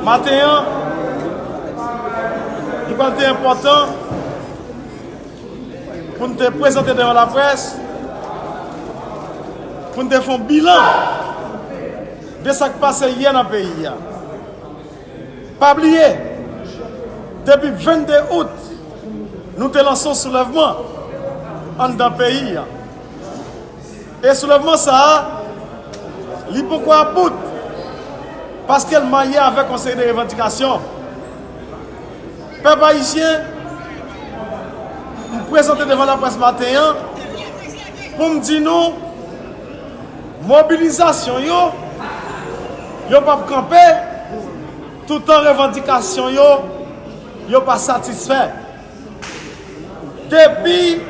Maten an, li pral te enpòtan pou n te prezante devan laprès, pou n te fè yon bilan de sa k pase yè nan peyi a. Pa bliye, depi 22 out, nou te lanse yon soulèvman anndan peyi a. E soulèvman sa a, li poko ap bout, paske l marye avèk yon seri de revandikasyon. Pèp ayisyen, m prezante devan laprès maten an, pou m di nou, mobilizasyon yo, yo p ap kanpe, toutan revandikasyon yo, yo pa satisfè. Depi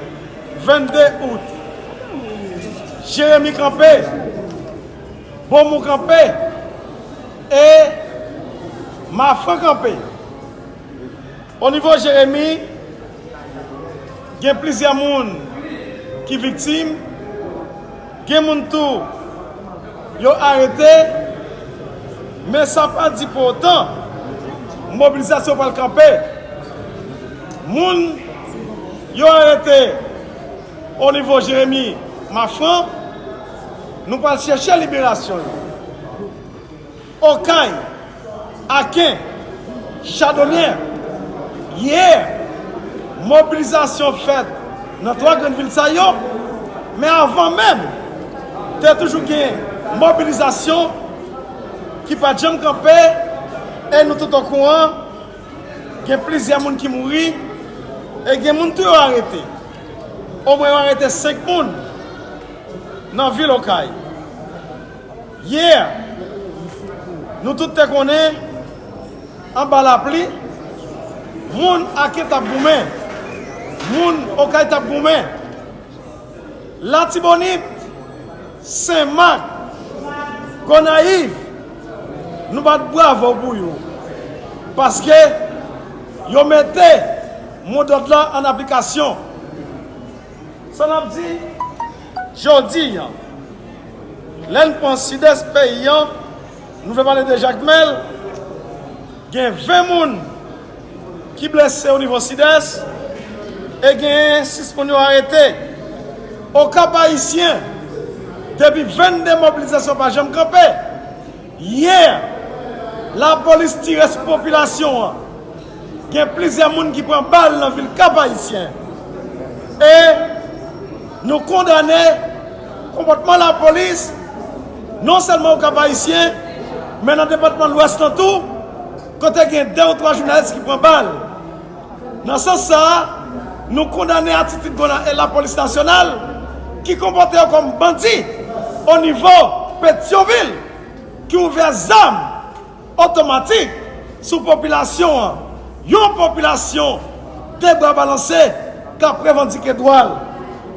22 out, Jeremi kanpe, Bomou kanpe e Mafran kanpe. O nivo Jeremi, gen plizyè moun ki viktim. Gen moun tou yo arete, men sa pa di pou otan mobilizasyon pral kanpe. Moun yo arete onivo Jeremi Mafran, nou pral chèche liberasyon yo. Okay, Aken, Chadonyè, Yeah! Mobilizasyon fèt nan 3 grann vil sa yo, men avan menm, te toujou gen mobilizasyon ki pa t janm kanpe e nou tout okouran gen plizyè moun ki mouri e gen moun tou yo arete. Omwen yo arete 5 moun nan vil Okay. Yeah! Nou tout te konnen, anba lapli, moun Aken t ap goumen, moun Okay t ap goumen. Latibonit, Sen Mak, Gonayiv, nou bat bravo pou yo, paske yo mete modòd la an aplikasyon. Sa n ap di jodi a, lè n pran Sidès peyi a, nou fè pale de Jakmèl, gen 20 moun ki blese onivo Sidès e genyen 6 moun yo arete. Okap Ayisyen, depi 22 mobilizasyon pa janm kanpe. Yè, lapolis tire sou popilasyon an. Gen plizyè moun ki pran bal nan vil Kap-Ayisyen. E, nou kondane konpòtman lapolis, non sèlman o Kap-Ayisyen, men nan depatman Lwès lan tou, kote gen 2 ou 3 jounalis ki pran bal. Nan sans sa a, nou kondane atitid Gonan e Lapolis Nasyonal ki konpòte yo kòm bandi o nivo Petyonvil ki ouvè zam otomatik sou popilasyon an, yon popilasyon de bra balanse k ap revandike dwa l.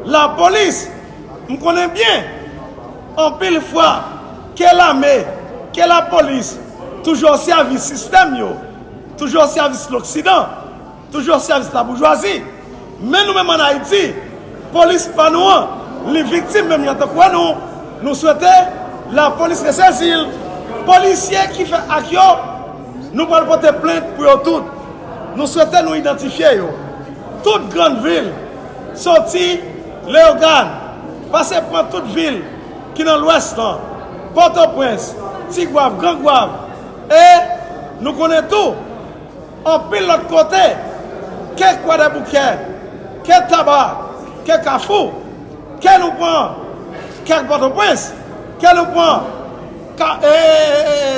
Lapolis, m konnen byen anpil fwa ke lame, ke lapolis toujou o sèvis sistèm yo. Toujou o sèvis loksidan, toujou o sèvis laboujwazi. Men nou menm an Ayiti, polis pa nou an, li viktim menm jan tankou anou. Nou swete lapolis resezi l. Polisye ki fè ak yo, nou pral pote plent pou yo tout. Nou swete nou idantifye yo. Tout grann vil, soti Leyogàn, pase pran tout vil ki nan lwès lan, Pòtoprens, Tigwav, Grangwav. E nou konnen tou, anpil lòt kote, ke Kwadèboukè, ke Taba, ke Kafou, ke nou pran kè Pòtoprens, ke nou pran ka e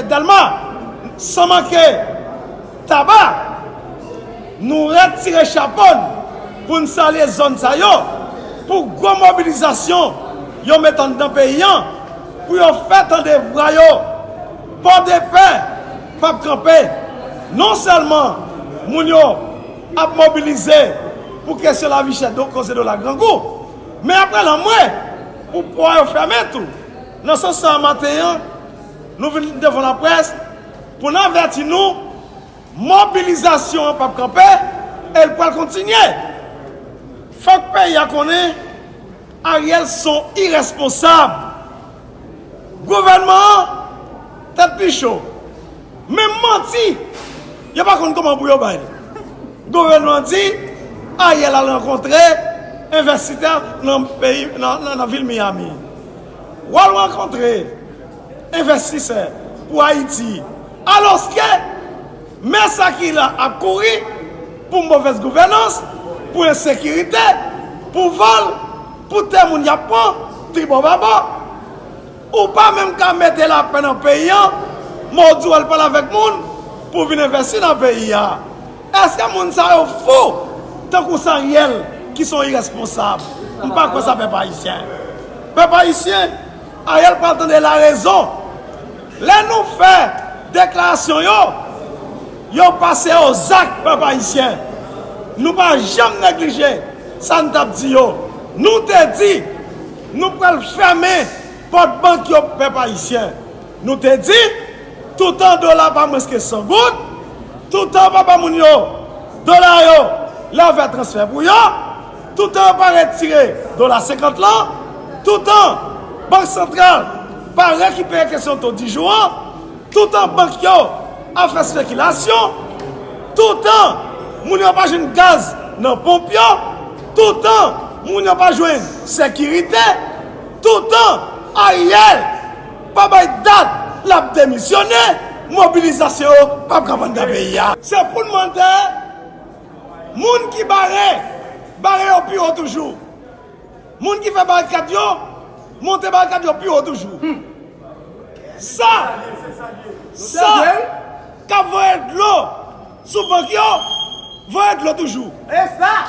Dèlma, san manke Taba, nou retire chapo n pou n salye zòn sa yo pou gwo mobilizasyon yo met anndan peyi an pou yo fè tande vwa yo. Pòdepè p ap kanpe, non sèlman moun yo ap mobilize pou kesyon lavi chè do koze dola grangou, men y ap pran lanmwe pou pò yo fèmen tou. Nan sans sa a maten an, nou vin devan laprès pou n avèti nou mobilizasyon an p ap kanpe e l pral kontinye. Fòk peyi a konnen Ariel s on irèsponsab. Gouvènman an tèt li cho. Menm manti yo pa konn kouman pou yo bay li. Gouvènman an di Ariel al rankontre envèsitè nan vil Miami. Ou al rankontre envèstisè pou Ayiti. Alòske men sa ki la ap kouri pou movèz gouvènans, pou ensekirite, pou vòl. Pou tè moun yap pran tribò baba ou pa menm ka mete lapè nan peyi an mòw di wal pale avèk moun pou vin envèsi nan peyi a eske moun sa yo fou tankou saryèl ki son irèsponsab m pa kwè sa pèp ayisyen pèp ayisyen aryèl pral tande larezon. Lè nou fè deklarasyon yo, yo pase o zak pèp ayisyen. Nou pa janm neglije sa n t ap di yo. Nou te di nou pral fèmen pòt bank yo pou pèp ayisyen. Nou te di toutan dola pa mwens ke 100 goud, toutan pa ba moun yo dola yo lè yo fè transfè pou yo, Toutan yo pa retire dola 50 lan, toutan Bank Santral pa rekipere kesyon to dijou an, toutan bank yo ap fè spekilasyon, toutan moun yo pa jwenn gaz nan ponp yo, toutan moun yo pa jwenn sekirite, toutan Ariel pa bay dat l ap demisyone, mobilizasyon yo p ap ka vann dan peyi a. Se pou n mande. Moun ki bare, bare yo pi wo toujou. Moun ki fè barikad yo, monte barikad yo pi wo toujou. Sa, sa, k ap voye dlo sou bank yo, voye dlo toujou.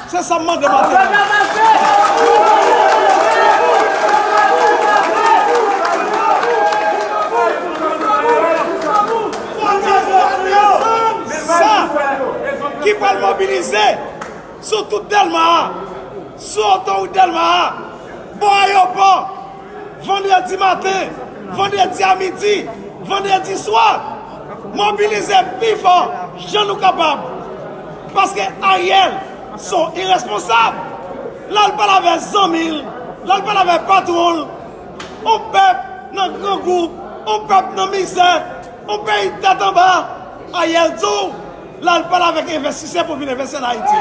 Se sa m mande maten an. Kote zòt yo sa ki pral mobilize sou tout Dèlma a, sou otowout Dèlma a, bò ayopò, vandredi maten, vandredi a midi, vandredi swa? Mobilize pi fò jan nou kapab. Paske Ariel son iresponsab, lal pale avè zanmi l, lal pale avè patwon l, On pèp nan grangou, on pèp nan mizè, on peyi tèt anba, Ariel di w lal pale avèk envestisè pou vin envesti an Ayiti.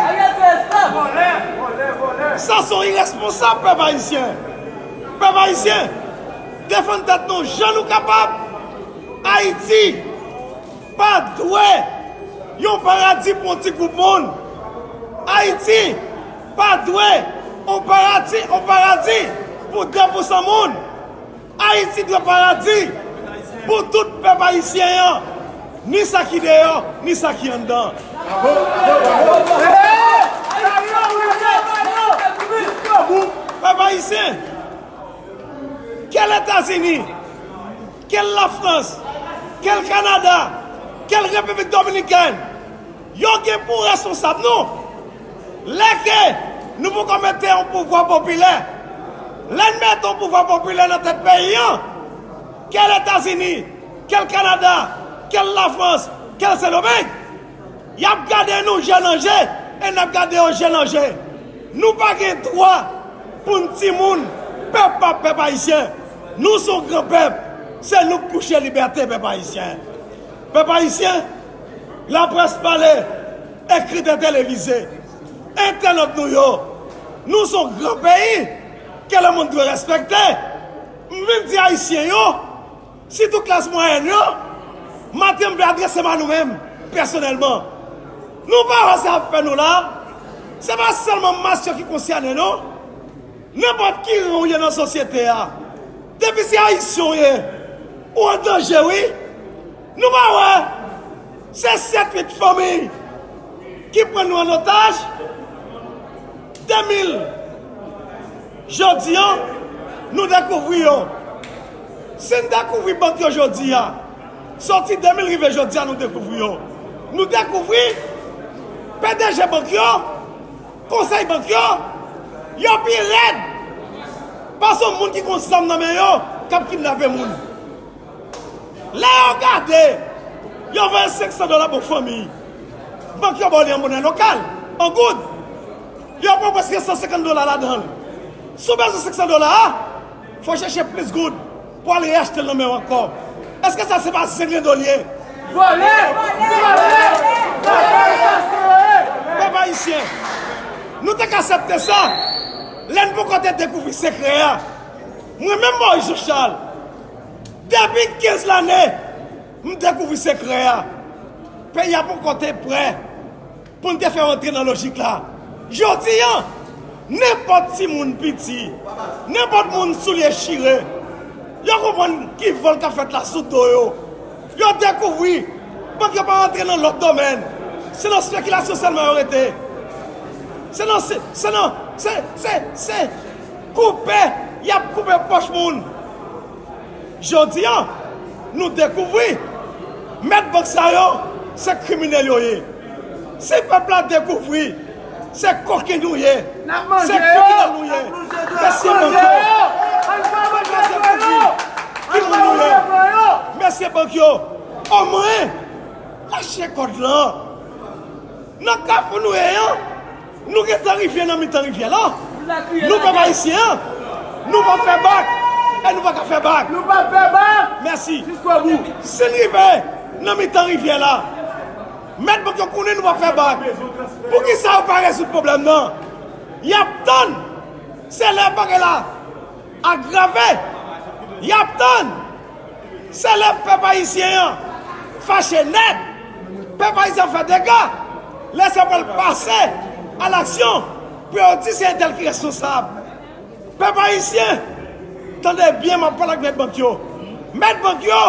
Sa son iresponsab pèp ayisyen. Pèp ayisyen, defann tèt nou jan nou kapab. Ayiti pa dwe yon paradi pou on ti gwoup moun. Ayiti. Pa dwe on parati on paradi pou 2 pou san moun. Ayiti dwe paradi pou tout pèp ayisyen an, ni sa ki deyò, ni sa ki anndan. Pèp ayisyen, ke l Etazini, ke l Lafrans, ke l Kanada, ke l Repiblik Dominikèn, yo gen pou reskonsab nou. Lè ke nou poko mete yon pouvwa popilè, lè n mete yon pouvwa popilè nan tèt peyi an, ke l Etazini, ke l Kanada, ke l Lafrans, ke l Sendomeng, y ap gade nou je nan je e n ap gade yo je nan je. Nou pa gen dwa pou n timoun pèp pa pèp ayisyen. Nou se yon gran pèp, se nou k pou chè libète pèp ayisyen. Pèp ayisyen. Laprès pale, ekritè televize, entènot nou yo, nou son gran peyi ke lemond dwe respekte. M vin di Ayisyen yo, sitou klas mwayèn yo, maten m vle adrese m a nou menm pèsonèlman. Nou pa wè sa y ap fè nou la? Se pa sèlman mas yo ki konsyène non. Nenpòt ki ran ou ye nan sosyete a, depi se Ayisyen w ye, ou an danje wi. Nou pa wè se 7 8 fanmi ki pran nou an otaj 2000 jodia nou dekouvri yo si n dekouvri bank yo jodia soti 2000 rive jodia nou dekouvri yo nou dekouvri pdg bank yo konsèy bank yo yo pi rèd pase yon moun ki gon zam nan men yo kap kidnape moun. Lè yo gade, yo voye 500 dola pou fanmi. Bank yo ba w li an monè lokal, an goud. Yo pran prèske 150 dola ladan l. Si w bezwen 500 dola a, fò w chèche plis goud pou w al reyachte l nan men yo ankò. Èske sa se pa zenglendo l ye? Vòlè! Vòlè! Vòlè sa se yo ye! Pèp Ayisyen, nou te ka asèpte sa lè n poko te dekouvri sekrè a. Mwen menm Moyiz Jan Chal. Depi 15 lane m dekouvri sekrè a, peyi a poko te prè pou n te fè antre nan lojik la. Jodi an, nenpòt timoun piti, nenpòt moun soulye chire, yo konprann ki vòl k ap fèt la sou do yo. Yo dekouvri bank yo pa antre nan lòt domèn. Se nan spekilasyon sèlman yo rete. Koupe yap koupe pòch moun. Jodi an nou dekouvri mèt bank sa yo se kriminèl yo ye. Si pèp la dekouvri se koken nou ye, se kriminèl nou ye, mesye bank yo, si pèp la dekouvri ki moun nou ye, mesye bank yo, omwen lache kòd lan. Nan kafou nou ye an. Nou gentan rive nan mitan rivyè la, nou pèp ayisyen an, nou pa fè bak e nou pa ka fè bak. Nou pap fè bak! Mèsi. Jiskobou. Si n rive nan mitan rivyè la, mèt bank yo konnen nou pa fè bak, poukisa yo pa rezoud pwoblèm nan? Y ap tann, se lè bagay la agrave y ap tann. Se lè pèp ayisyen an fache nèt, pèp ayisyen an fè dega, lè sa pral pase a laksyon pou yo di se entèl ki responsab. Pèp ayisyen, tande byen m ap pale ak mèt bank yo, mèt bank yo,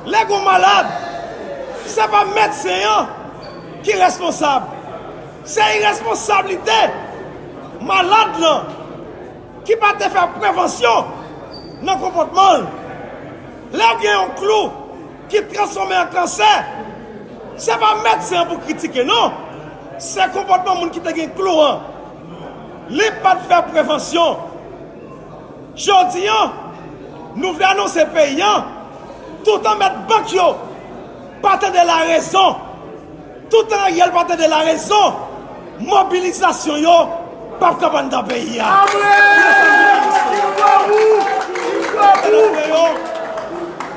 lè gen yon malad, se pa medsen an ki responsab, se iresponsablite malad lan. ki pa te fè prevansyon nan konpòtman l. Lè w gen yon klou ki transfòme an kansè, se pa medsen an pou w kritike non, se konpòtman moun ki te gen klou an. Li pa t fè prevansyon. Jodi an, nou vle anonse peyi an, toutan mèt bank yo pa tande larezon. Toutan Ariel pa tande la rezon mobilizasyon yo pap kab anndan peyi a.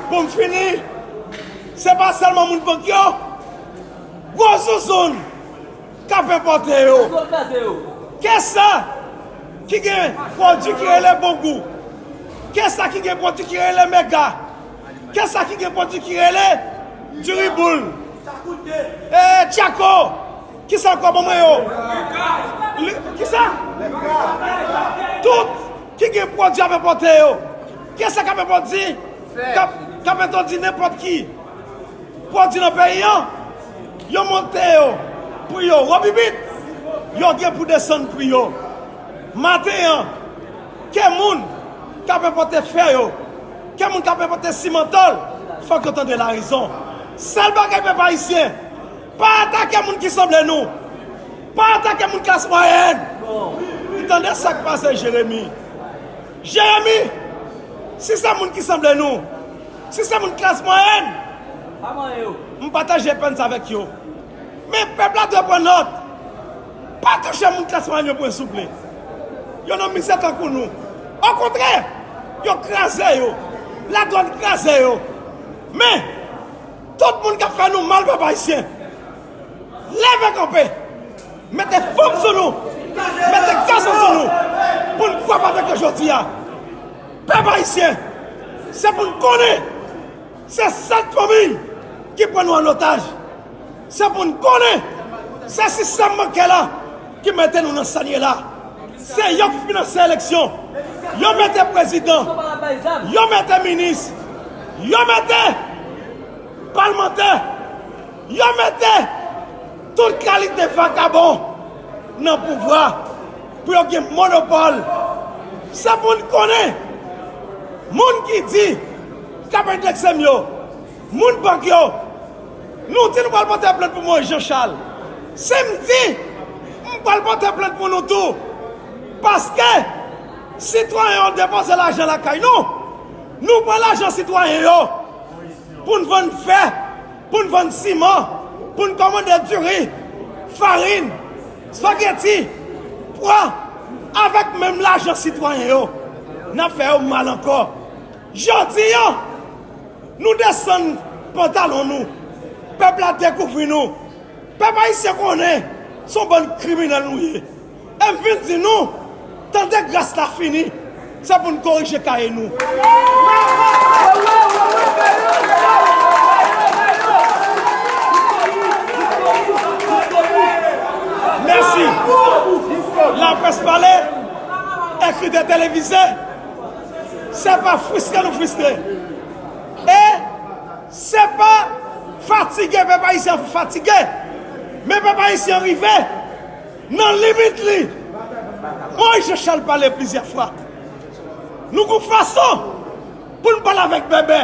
Pou m fini, se pa sèlman moun bank yo, gwo zouzoun k ap enpòte yo. Kesa ki gen pwodui ki rele bongou? Kesa ki gen pwodui ki rele mega? Kè sa ki gen pwodwi ki rele diri boul ee tchako kisa ankò bon mwen yo kisa tout ki gen pwodwi ap enpòte yo kè sa kap enpòti kap entòdi nenpòt ki pwodwi nan peyi an yo monte yo pri yo wobibit yo gen pou desann pri yo maten an. Ke moun kap enpote fè yo, ke moun kap enpote simantol fok yo tande la rezon. Sel bagay pèp ayisyen, pa atake moun ki sanble nou, pa atake moun klas mwayèn. Ou tande sak pase Jeremi. Jeremi, si se moun ki sanble nou, si se moun klas mwayèn, m pataje pèn sa avèk yo. Men pèp la dwe pran nòt. Pa touche moun klas manyo pwen souple. Yo nan mizè tankou nou. Okontrè, yo kraze yo. Ladwàn kraze yo. Men, tout moun k ap fè nou mal pèp ayisyen, leve kanpe, mete fanm sou nou, mete gason sou nou pou n fwape avèk yo jodi a. Pèp ayisyen, se pou n konnen! Se 7 fanmiy ki pran nou an otaj. Se pou n konnen se sistèm bankè la ki mete nou nan sa n ye la. Se yo k finanse eleksyon, yo mete prezidan, yo mete minis, yo mete palmantè, yo mete tout kalite vakabon nan pouvwa pou yo gen monopòl. Se pou n konnen moun ki di. Kap endekse m yo. Moun bank yo. Nou di nou pral pote plent pou Moïse Jean Charles. Si m di m pral pote plent pou nou tou paske sitwayen yo depoze lajan lakay nou, nou pran lajan sitwayen yo pou n vann fè, pou n vann siman, pou n kòmande diri, farin, spageti, pwa avèk menm lajan sitwayen yo. N ap fè yo mal ankò. Jodi a, nou desann pantalon nou, pèp la dekouvri nou, pèp ayisyen konnen son bann kriminèl nou ye, epi vin di nou, tande gras la fini, se pou n korije kaye nou. Mèsi! Laprès pale, ekritè televize. Se pa fristre nou fristre. E se pa fatige pèp ayisyen an fatige. Men pèp ayisyen an rive nan limit li. Moïse Jean Charles pale plizyè fwa. Nou gon fason pou n pale avèk bèbè.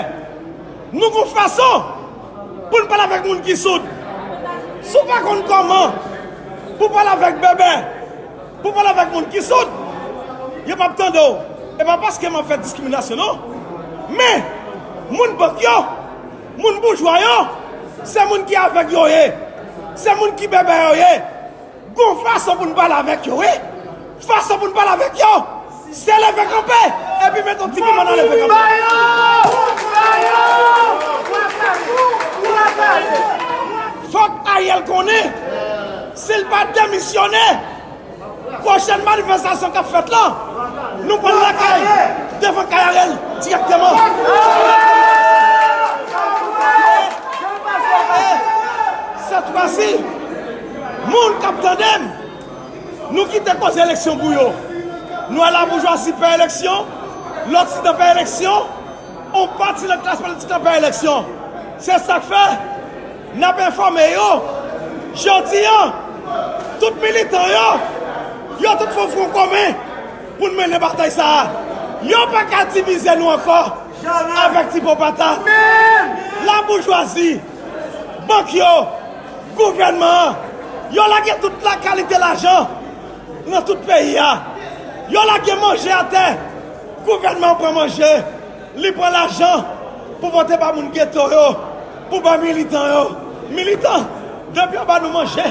Nou gon fason pou n pale avèk moun ki soud. Si w pa konn kòman pou w pale avèk bèbè, Pou pale avèk moun ki soud, yo pap tande w. E pa paske map fè diskriminasyon non. Men, moun bank yo, moun boujwa yo, se moun ki avèg yo ye. Se moun ki bèbè yo ye. Gon fason pou n pale avèk yo wi. Fason pou n pale avèk yo. Se leve kanpe epi met yon ti piman nan leve kanpe. Fok Ariel konnen si l pa demisyone pwochen manifestasyon kap fet lan nou pral lakay devan kay Ariel direkteman. Set fwa si moun kap tandem. Nou kite koze eleksyon pou yo. Nou a la boujwazi pè eleksyon, loksidan pè eleksyon, on pati nan klas politik la pè eleksyon. Se sak fè, n ap enfòme yo, jodi an, tout militan yo, yo tout fon fwon komen pou n mennen batay sa a. Yo pa ka divize nou ankò avèk ti pon patat. La boujwazi! Bank yo, gouvènman an, yo lage tout la kalite lajan nan tout peyi a. Yo lage manje atè, gouvènman an pran manje, li pran lajan pou pote ba moun geto yo, pou ba militan yo. Militan, depi yo ba nou manje,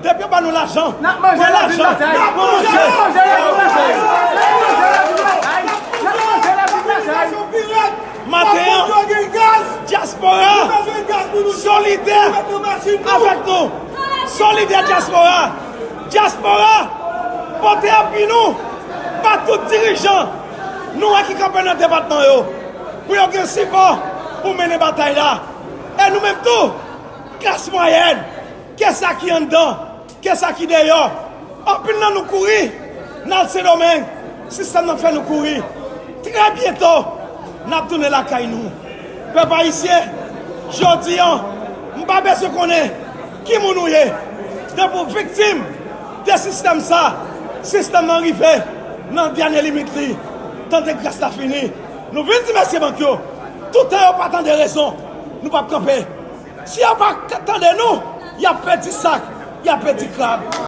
depi yo ba nou lajan, pran lajan, pran manje, pran manje. Maten an, dyaspora solidè avèk nou. Solidè dyaspora. Dyaspora pote api nou ba tout dirijan nou wè ki kanpe nan depatman yo pou yo gen sipò pou mennen batay la. E nou menm tou, klas mwayèn, ke sa ki anndan. Ke sa ki deyò. Anpil nan nou kouri nan al Sendomeng. Sistèm nan fè nou kouri. Trè byento n ap tounen lakay nou. Pèp Ayisyen, jodi an, m pa bezwen konnen ki moun ou ye, depi w viktim de sistèm sa, sistèm nan rive nan dènye limit li. Tan de gras la fini. Nou vin di mesye bank yo, toutan yo pa tande rezon, nou p ap kanpe. Si yo pa tande nou, y ap pèdi sak, y ap pèdi krab.